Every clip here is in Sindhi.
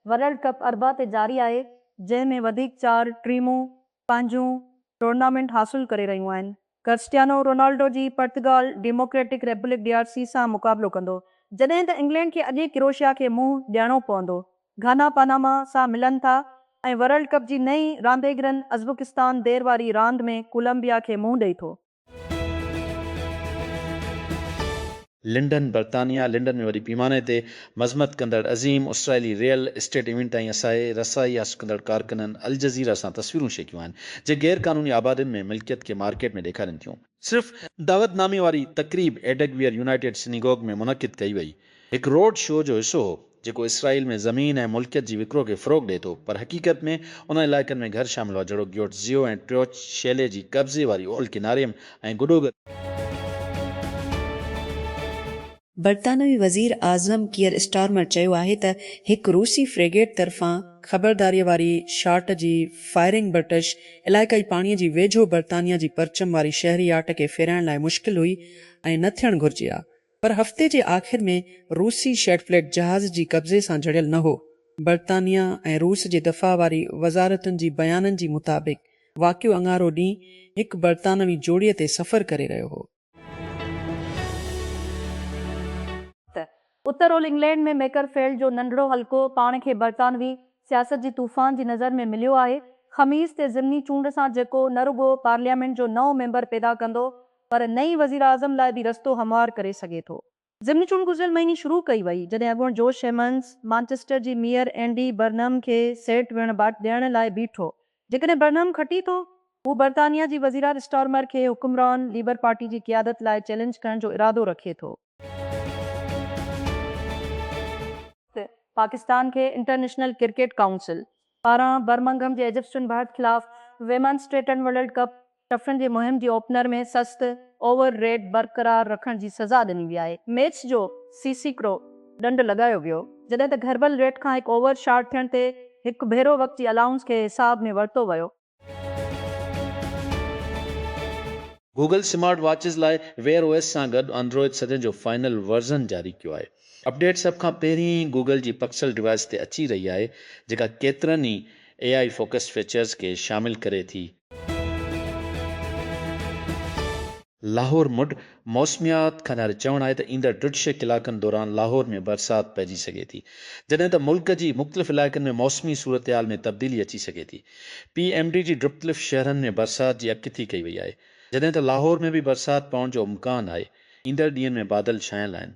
ورلڊ ڪپ اربع تي جاري آهي، جنهن ۾ وڌيڪ چار ٽيمون پنهنجون ٽورنامينٽ حاصل ڪري رهيون آهن. ڪرسٽيانو رونالڊو جي Portugal Democratic Republic, D R C, سان مقابلو ڪندو، جڏهن ته انگلينڊ کي اڄ ئي ڪروشيا کي منهن ڏيڻو پوندو. گهانا پاناما سان ملن ٿا ۽ ورلڊ ڪپ جي نئين رانديگرن ازبڪستان دير واري راند ۾ ڪولمبيا کي منهن ڏئي ٿو. لنڊن، برطانيا لنڊن ۾ وڏي پيماني تي مذمت ڪندڙ عظيم اسرائيلي ريئل اسٽيٽ ايونٽ تائين اسائي رسائي حاصل ڪندڙ ڪارڪنن الجزيره سان تصويرون شيئر ڪيون آهن جي غير قانوني آبادين ۾ ملڪيت کي مارڪيٽ ۾ ڏيکارين ٿيون. صرف دعوت نامي واري تقريب ايڊگويئر يونائيٽيڊ سنيگوگ ۾ منعقد ڪئي وئي. هڪ روڊ شو جو حصو هو، جيڪو اسرائيل ۾ زمين ۽ ملڪيت جي وڪرو کي فروغ ڏئي ٿو، پر حقيقت ۾ انهن علائقن ۾ گهر شامل هئا، جهڙوڪ گيوٽ زيو ۽ ٽريوچ شيلي جي قبضي واري اولهه ڪناري م ۽ گڊوگر. برطانوي وزير اعظم ڪيئر اسٽارمر چيو آهي ته هڪ روسي فريگيٽ طرفان خبرداريء واري شاٽ جي فائرنگ برٽش علائقائي پاڻي جي ويجهو برطانيا جي پرچم واري شهري ياٽ کي ڦيرائڻ لاء مشڪل هئي ۽ نه ٿيڻ گهرجي ها، پر هفتي جي آخر ۾ روسي شيڊ فليٽ جهاز جي قبضي سان جڙيل نه هو. برطانيه ۽ روس جي دفاع واري وزارتن جي بيانن جي مطابق واقعو اڱارو ڏينهن هڪ برطانوي جوڙي تي سفر ڪري رهيو هو. ته اتر اولھ انگلينڊ ۾ ميڪر فيلڊ جو ننڍڙو حلقو پاڻ کي برطانوي سياست جي طوفان جي نظر ۾ مليو آهي. خميس تي ضمني چونڊ سان جيڪو نه رڳو پارليامينٽ جو نئون ميمبر پيدا ڪندو پر نئين وزيراعظم لاء به رستو هموار ڪري سگهي ٿو. ضمني چونڊ گذريل مهيني شروع ڪئي وئي جڏهن اڳوڻو جوش شيمنز مانچسٽر جي ميئر اينڊي برنهم کي سيٽ ويهڻ باٽ ڏيڻ لاء بيٺو. جيڪڏهن برنهم کٽي ٿو هو برطانيا جي وزيراعظ اسٽارمر کي حڪمران ليبر پارٽي جي قيادت لاء چئلينج ڪرڻ جو ارادو رکي ٿو. پاڪستان کي انٽرنيشنل ڪرڪيٽ ڪائونسل پاران برمنگهم جي ايجسٽن ڀرت خلاف ويمنز ٽي ٽن ورلڊ ڪپ ٽفرن جي مهم جي اوپنر ۾ سست اوور ريٽ برقرار رکڻ جي سزا ڏني وئي آهي. ميچ جو سي سي ڪرو ڏنڊ لڳايو ويو، جڏهن ته گهربل ريٽ کان هڪ اوور شارٽ ٿيڻ تي هڪ ڀيرو وقت جي الائونس کي حساب ۾ ورتو ويو. گوگل سمارٽ واچز لاء ويئر او ايس سان گڏ آنڊروئيڊ ستين جو فائنل ورزن جاري ڪيو آهي. اپڊيٽ سڀ کان پهرين ئي گوگل جي پڪسل ڊوائيس تي اچي رهي آهي، جيڪا ڪيترن ئي اي آء فوڪسڊ فيچرز کي شامل ڪري ٿي. لاهور، مڊ، موسميات خانه جو چوڻ آهي ته ايندڙ ٽه ڇهه ڪلاڪن دوران لاهور ۾ برسات پئجي سگهي ٿي، جڏهن ته ملڪ جي مختلف علائقن ۾ موسمي صورتحال ۾ تبديلي اچي سگهي ٿي. پي ايم ڊي جي ڊپتلف شهرن ۾ برسات جي اڳڪٿي ڪئي وئي آهي، جڏهن ته لاهور ۾ به برسات پوڻ جو امڪان آهي، ايندڙ ڏينهن ۾ بادل ڇانيل آهن.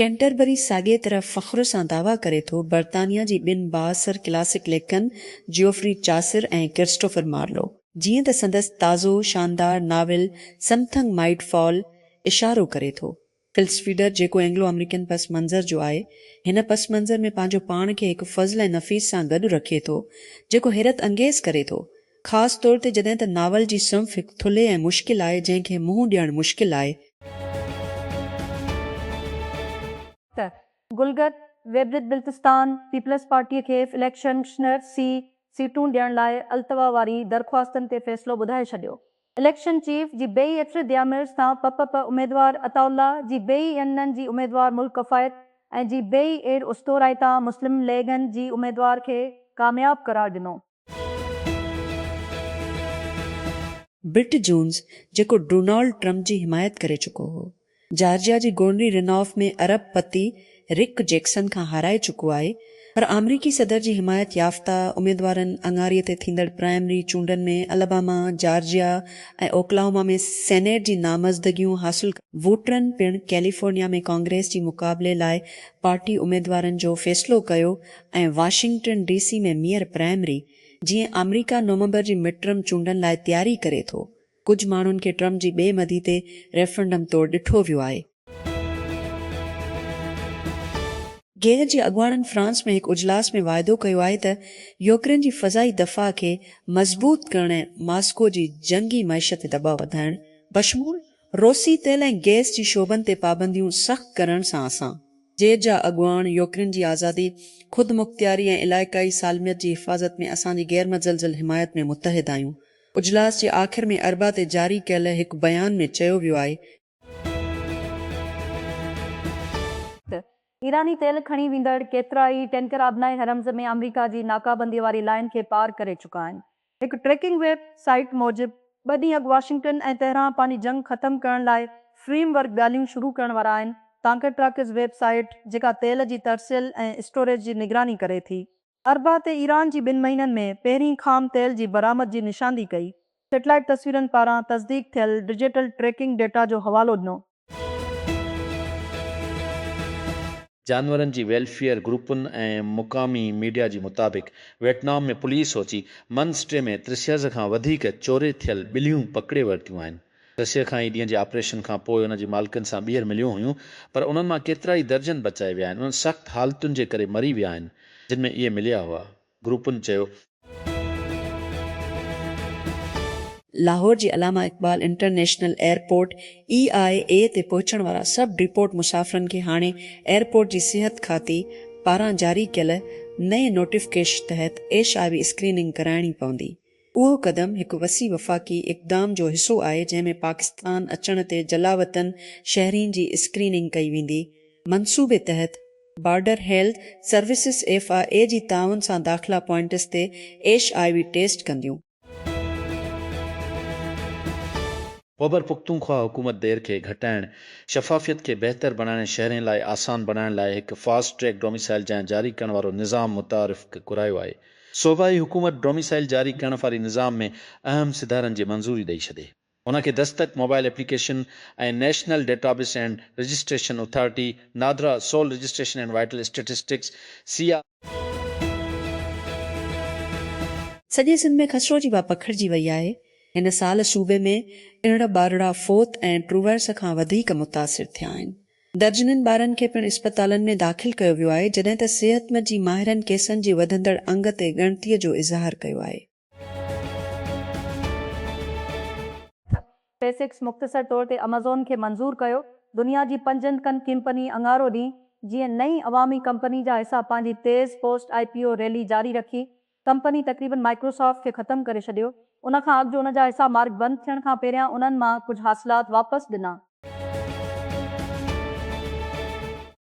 ڪينٽربري ساڳيء طرح فخر سان دعويٰ ڪري ٿو، برطانيا جي ٻن بااثر ڪلاسڪ ليکڪن جيوفري چاسر ۽ ڪرسٽوفر مارلو، جيئن ته سندس تازو شاندار ناول سمٿنگ مائيٽ فال اشارو ڪري ٿو. ڪلسفيڊر، جيڪو اينگلو آمريڪن پس منظر جو آهي، هن پس منظر ۾ پنهنجو پاڻ کي هڪ فضل ۽ نفيس سان گڏ رکي ٿو، جيڪو حيرت انگيز ڪري ٿو. خاص طور تي جڏهن ته ناول جي صنف هڪ ٿلهي ۽ مشڪل آهي جنهن کي منهن ڏيڻ مشڪل آهي. ته گلگت ويبلت بلتستان پيپلز پارٽي کي اليڪشن شنر سي سيٽون ڏيڻ لاء التوا واري درخواستن تي فيصلو ٻڌائي ڇڏيو اليڪشن چيف جي بي ايٽري ديامرز تان پ پ پ اميدوار عطاء الله جي بي اين نن جي اميدوار ملڪ ڪفايت ۽ جي بي اير استورائي تان مسلم ليگ ن جي اميدوار کي ڪامياب قرار ڏنو. برٽ جونز جيڪو ڊونالڊ ٽرمپ جي حمايت ڪري چڪو هو، جارجيا جي گورنري رن آف ۾ ارب پتي رڪ جيڪسن کان هارائي چڪو آهي پر آمريڪي صدر جي حمايت يافته اميدوارن اڱاري تي ٿيندڙ پرائمري چونڊن ۾ الاباما، جارجيا ۽ اوڪلاهوما ۾ سينيٽ جي نامزدگيون حاصل ووٽرن پڻ ڪيليفورنيا ۾ ڪانگريس جي مقابلي لاء پارٽي اميدوارن جو فيصلو ڪيو ۽ Washington D C ۾ mayor primary جيئن آمريڪا نومبر جي مڊ ٽرم چونڊن لاء تياري ڪري ٿو، ڪجهه ماڻهن کي ٽرم جي ٻئي مدي تي ريفرنڊم طور ڏٺو ويو آهي. گيهه جي اڳواڻن فرانس ۾ هڪ اجلاس ۾ واعدو ڪيو آهي ته يوڪرين جي فضائي دفاع کي مضبوط ڪرڻ ۽ ماسڪو جي جنگي معيشت تي دٻاء وڌائڻ بشمول روسي تيل ۽ گئس جي شعبن تي پابنديون سخت ڪرڻ سان اسان، جير جا اڳواڻ، يوڪرين جي آزادي، خودمختياري ۽ علائقائي سالميت جي حفاظت ۾ اسان جي غيرمتزلزل حمايت ۾ متحد آهيون. اجلاس جي آخر ۾ اربع تي جاري ڪيل هڪ بيان ۾ چيو ويو آهي. ته ايراني تيل کڻي ويندڙ ڪيترائي ٽينڪر آبنائي هرمز ۾ آمريڪا جي ناڪابندي واري لائين کي پار ڪري چڪا آهن. هڪ ٽريڪنگ ويب سائيٽ موجب، ٻه ڏينهن اڳ واشنگٽن ۽ تهران پنهنجي جنگ ختم ڪرڻ لاء فريم ورڪ ڳالهيون شروع ڪرڻ وارا آهن، تانڪه ٽراڪس ويب سائيٽ، جيڪا تيل جي ترسيل ۽ اسٽوريج جي نگراني ڪري ٿي، اربع تي ايران جي ٻن مهينن ۾ پهرين خام تيل جي برآمد جي نشاندهي ڪئي، سيٽلائيٽ تصويرن پاران تصديق ٿيل ڊجيٽل ٽريڪنگ ڊيٽا جو حوالو ڏنو. جانورن جي ويلفيئر گروپن ۽ مقامي ميڊيا جي مطابق Vietnam ۾ police Ho Chi Minh city ۾ ترسيز کان وڌيڪ چوري ٿيل ٻليون پڪڙي ورتيون آهن. ترسيز کان اي ڏينهن جي آپريشن کان پوء ان جي مالڪن سان ٻيهر مليون هيون پر انهن مان ڪيترائي درجن بچائي ويا آهن انهن سخت حالتن جي ڪري مري ويا آهن جن ۾ اهي مليا هئا. گروپن چيو. لاهور جي Allama Iqbal international airport, A I A, تي پهچڻ وارا سڀ ڊپورٽ مسافرن کي هاڻي ايئرپورٽ جي صحت کاتي پاران جاري ڪيل نئين نوٽيفڪيشن تحت ايش آء وي اسڪريننگ ڪرائڻي پوندي. اهو قدم هڪ وسيع وفاقي اقدام جو حصو آهي جنهن ۾ پاڪستان اچڻ تي جلاوطن شهرين جي اسڪريننگ ڪئي ويندي. منصوبي تحت border health services F I A جي تعاون سان داخلا پوائنٽس تي ايش آء وي ٽيسٽ ڪنديون. خيبرپختونخوا حڪومت دير کي گهٽائڻ، شفافيت کي بهتر بڻائڻ ۽ شهرين لاء آسان بڻائڻ لاء هڪ فاسٽ ٽريڪ ڊوميسائيل جاء جاري ڪرڻ وارو نظام متعارف ڪرايو آهي. صوبائي حڪومت ڊوميسائيل جاري ڪرڻ واري نظام ۾ اهم سڌارن جي منظوري ڏئي ڇڏي. ان کي Dastak mobile application ۽ national database and registration authority, NADRA, civil registration and vital statistics, C. R. سڄي سنڌ ۾ خسرو جي واء پکڙجي وئي آهي، هن سال صوبي ۾ ارڙهن ٻارڙا فوت ۽ ٽرووائرس کان وڌيڪ متاثر ٿيا آهن، درجنن ٻارن کي پڻ اسپتالن ۾ داخل ڪيو ويو آهي، جڏهن ته صحت جي ماهرن ڪيسن جي وڌندڙ انگ تي ڳڻتي جو اظهار ڪيو آهي. اسپيس ايڪس مختصر طور تي امازون کي منظور ڪيو، دنيا جي پنجن ڪن ڪمپني اڱارو ڏينهن جيئن نئين عوامي ڪمپني جا حصا پنهنجي تيز post I P O rally جاري رکي، ڪمپني تقريبن مائڪروسافٽ کي ختم ڪري ڇڏيو، ان کان اڳ جو ان جا حصا مارڪ بند ٿيڻ کان پهريان انهن مان ڪجهه حاصلات واپس ڏنا.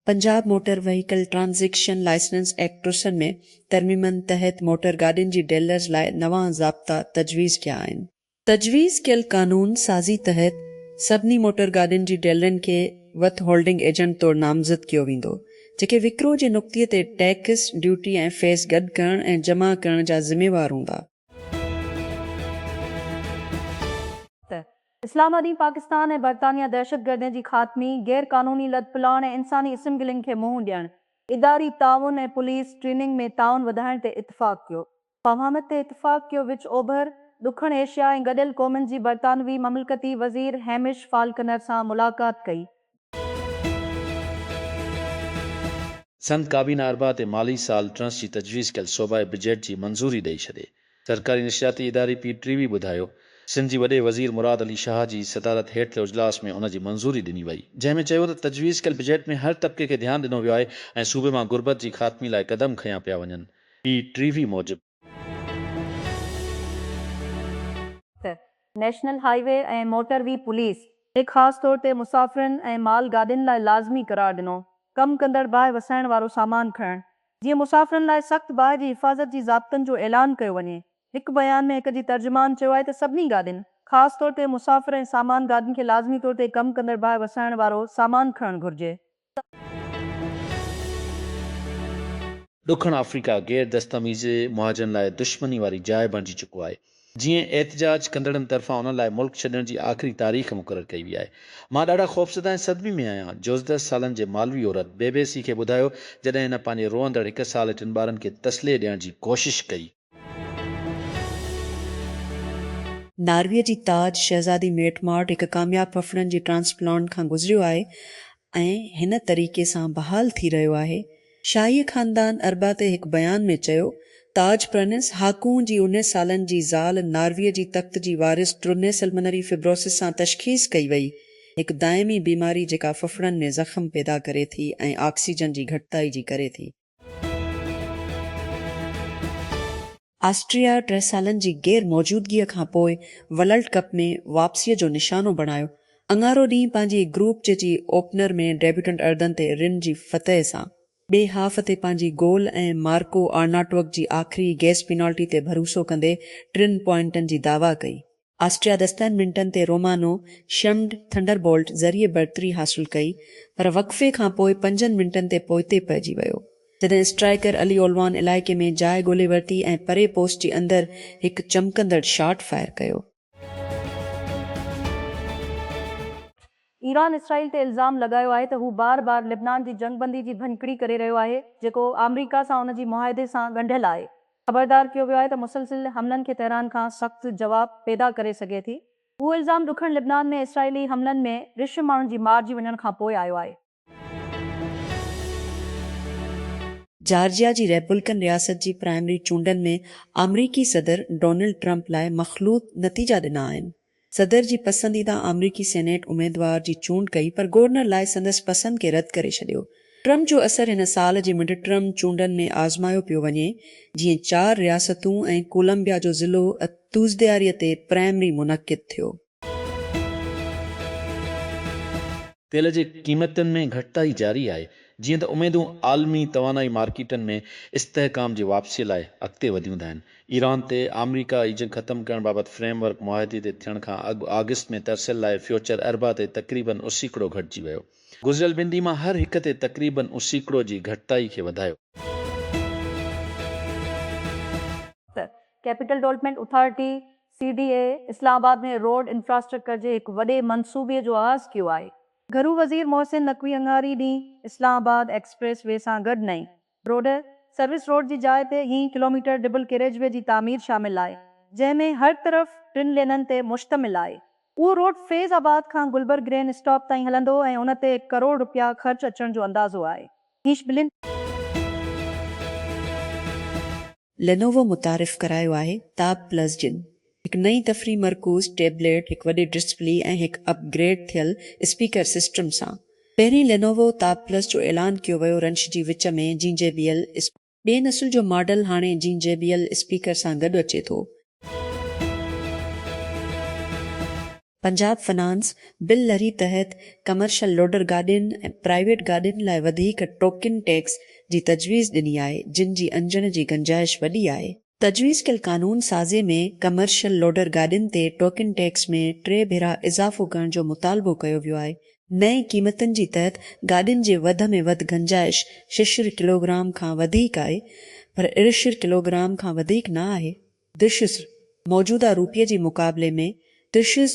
Punjab motor vehicle transaction licence act ٽرسن ۾ ترميمن تحت موٽر گاڏين جي ڊيلرز لاء نوان ضابطا تجويز ڪيا آهن. تجويز ڪيل قانون سازي تحت سڀني موٽر گاڏين جي ڊيلرن کي وٿ هولڊنگ ايجنٽ طور نامزد ڪيو ويندو، جيڪي وڪرو جي نقطي تي ٽيڪس، ڊيوٽي ۽ فيس گڏ ڪرڻ ۽ جمع ڪرڻ جا ذميوار هوندا. ته اسلام آباد ڏينهن پاڪستان ۽ برطانيا دهشتگردين جي خاتمي، غير قانوني لڏپلاڻ ۽ انساني اسمگلنگ کي منهن ڏيڻ، اداري تعاون ۽ پوليس ٽريننگ ۾ تعاون وڌائڻ تي اتفاق ڪيو. پهامت تي اتفاق ڪيو وچ اوڀر، ڏکڻ ايشيا ۽ گڏيل قومن جي برطانوي مملڪتي وزير هيمش فالڪنر سان ملاقات ڪئي. سنڌ ڪابينا اربع تي مالي سال ٽرنس جي تجويز ڪيل صوبائي بجيٽ جي منظوري ڏئي ڇڏي. سرڪاري نشرياتي اداري پي ٽي وي ٻڌايو سنڌ جي وڏي وزير مراد علي شاهه جي صدارت هيٺ ٿيل اجلاس ۾ ان جي منظوري ڏني وئي جنهن ۾ چيو ته تجويز ڪيل بجيٽ ۾ هر طبقي کي ڌيان ڏنو ويو آهي ۽ صوبي مان غربت جي خاتمي لاء قدم کنيا پيا وڃن. پي ٽي وي موجب. ته national highway ۽ motorway police کي خاص طور تي مسافرن ۽ مال گاڏين لاء لازمي قرار ڏنو ڪم ڪندڙ باهه وسائڻ وارو سامان کڻڻ جيئن مسافرن لاء سخت باهه جي حفاظت جي ضابطن جو اعلان ڪيو وڃي هڪ بيان ۾ هڪ جي ترجمان چيو آهي ته سڀني گاڏين خاص طور تي مسافر ۽ سامان گاڏين کي لازمي طور تي ڪم ڪندڙ باهه وسائڻ وارو سامان کڻڻ گهرجي. ڏکڻ آفريڪا غير دستاميزي مهاجرن لاء دشمني واري جاء بڻجي چڪو آهي، جيئن احتجاج ڪندڙن طرفان انهن لاء ملڪ ڇڏڻ جي آخري تاريخ مقرر ڪئي وئي آهي. مان ڏاڍا خوفزده ۽ صدمي ۾ آهيان، جوزده سالن جي مالوي عورت بي بي سي کي ٻڌايو جڏهن هن پنهنجي روئندڙ هڪ سال ۽ ٽن ٻارن کي تسلي ڏيڻ جي ڪوشش ڪئي. ناروي جي تاج شهزادي ميٽ مارٽ هڪ ڪامياب ڦڦڙن جي ٽرانسپلانٽ کان گذريو آهي ۽ هن طريقي سان بحال ٿي رهيو آهي. شاهي خاندان اربع تي هڪ بيان ۾ چيو، تاج پرنس هاڪون جي انيس سالن جي زال ناروي جي تخت جي وارث ٽرونيسلمنري فبروسس سان تشخيص ڪئي وئي، هڪ دائمي بيماري جيڪا ڦڦڙن ۾ زخم پيدا ڪري ٿي ۽ آڪسيجن جي گهٽتائي جي ڪري ٿي. آسٽريا ٽه سالن جي غير موجودگيء کان پوء ولرلڊ ڪپ ۾ واپسيء جو نشانو بڻايو، اڱارو ڏينهن پنهنجي گروپ جي جي اوپنر ۾ ڊيبيوٽنٽ اردن تي رن جي فتح سان، ٻئي هاف تي پنهنجي گول ۽ مارڪو آرناٽوڪ جي آخري گيس پينالٽي تي ڀروسو ڪندي ٽن پوائنٽن جي دعويٰ ڪئي. آسٽريا دستن منٽن تي رومانو شمڊ ٿنڊر بولٽ ذريعي برتري حاصل ڪئي پر وقفي کانپوء پنجن منٽن تي پوئتي پئجي ويو جڏهن اسٽرائيڪر علي اولوان علائقي ۾ جاء ڳولي ورتي ۽ پري پوسٽ جي اندر هڪ چمڪندڙ شاٽ فائر ڪيو. ايران اسرائيل تي الزام لڳايو آهي ته هو بار بار لبنان جي جنگبندي جي ڀڃڪڙي ڪري رهيو آهي جيڪو آمريڪا سان ان جي معاهدي سان ڳنڍيل آهي خبردار ڪيو ويو آهي ته مسلسل حملن کي تهران کان سخت جواب پيدا ڪري سگهي ٿي. اهو الزام ڏکڻ لبنان ۾ اسرائيلي حملن ۾ رش ماڻهن جي مارجي وڃڻ کان پوء آيو آهي. جارجيا جي ريپولڪن رياست جي پرائمري چونڊن ۾ آمريڪي صدر ڊونلڊ ٽرمپ لاء مخلوط نتيجا ڏنا آهن. صدر جي پسنديده آمريڪي سينيٽ اميدوار جي چونڊ ڪئي پر گورنر لائي سندس پسند کي رد ڪري ڇڏيو. ٽرمپ جو اثر هن سال جي مڊ ٽرم چونڊن ۾ آزمايو پيو وڃي جيئن چار رياستون ۽ ڪولمبيا جو ضلعو تسدياري تي پرائمري منعقد ٿيو. تيل جي قيمتن ۾ گهٽتائي جاري آهي جيئن ته اميدون عالمي توانائي مارڪيٽن ۾ استحڪام جي واپسي لاء اڳتي وڌيون ٿا هن ايران تي آمريڪا ئي جنگ ختم ڪرڻ بابت فريم ورڪ معاهدي تي ٿيڻ کان اڳ آگسٽ ۾ ترسيل لاء فيوچر اربع تي تقريبن اھو سيڪڙو گهٽجي ويو. گذريل ٻن ڏينهن مان هر هڪ تي تقريبن اھو سيڪڙو جي گهٽتائي کي وڌايو. Capital development authority, C D A, Islamabad ۾ road infrastructure جي هڪ وڏي منصوبي جو آغاز ڪيو آهي. گهرو وزير محسن نقوي اڱاري ڏينهن اسلام آباد ايڪسپريس وي سان گڏ نئين روڊ، سروس روڊ جي جاء تي هين ڪلوميٽر ڊبل ڪيريج وي جي تعمير شامل آهي، جنهن ۾ هر طرف ٽن لينن تي مشتمل آهي. اهو روڊ فيض آباد کان گلبرگ گرين اسٽاپ تائين هلندو ۽ ان تي ڪروڙ رپيا خرچ اچڻ جو اندازو آهي. هيش بلند. لينووو متعارف ڪرايو آهي تاب پلس جن، هڪ نئين تفريح مرڪوز ٽيبليٽ، هڪ وڏي ڊسپلي ۽ هڪ اپ گريڊ ٿيل اسپيڪر سسٽم سان. پهرين لينووو تاب پلس جو اعلان ڪيو ويو رنش جي وچ ۾ جين جي بي ايل. ٻئي نسل جو ماڊل هاڻي جين جي بي ايل اسپيڪر سان گڏ اچي ٿو. پنجاب فنانس بل لھري تحت ڪمرشل لوڊر گاڏين ۽ پرائيويٽ گاڏين لاء وڌيڪ ٽوڪن ٽيڪس جي تجويز ڏني آھي جن جي انجڻ جي گنجائش وڏي آھي. تجويز ڪيل قانون سازي ۾ ڪمرشل لوڊر گاڏين تي ٽوڪن ٽيڪس ۾ ٽي ڀيرا اضافو ڪرڻ جو مطالبو ڪيو ويو آھي. نئين قيمتن جي تحت گاڏين جي وڌ ۾ وڌ گنجائش ششر ڪلوگرام کان وڌيڪ آھي پر ارشر ڪلوگرام کان وڌيڪ نه آھي. درشسر، موجوده روپيه جي مقابلي ۾ درشسر،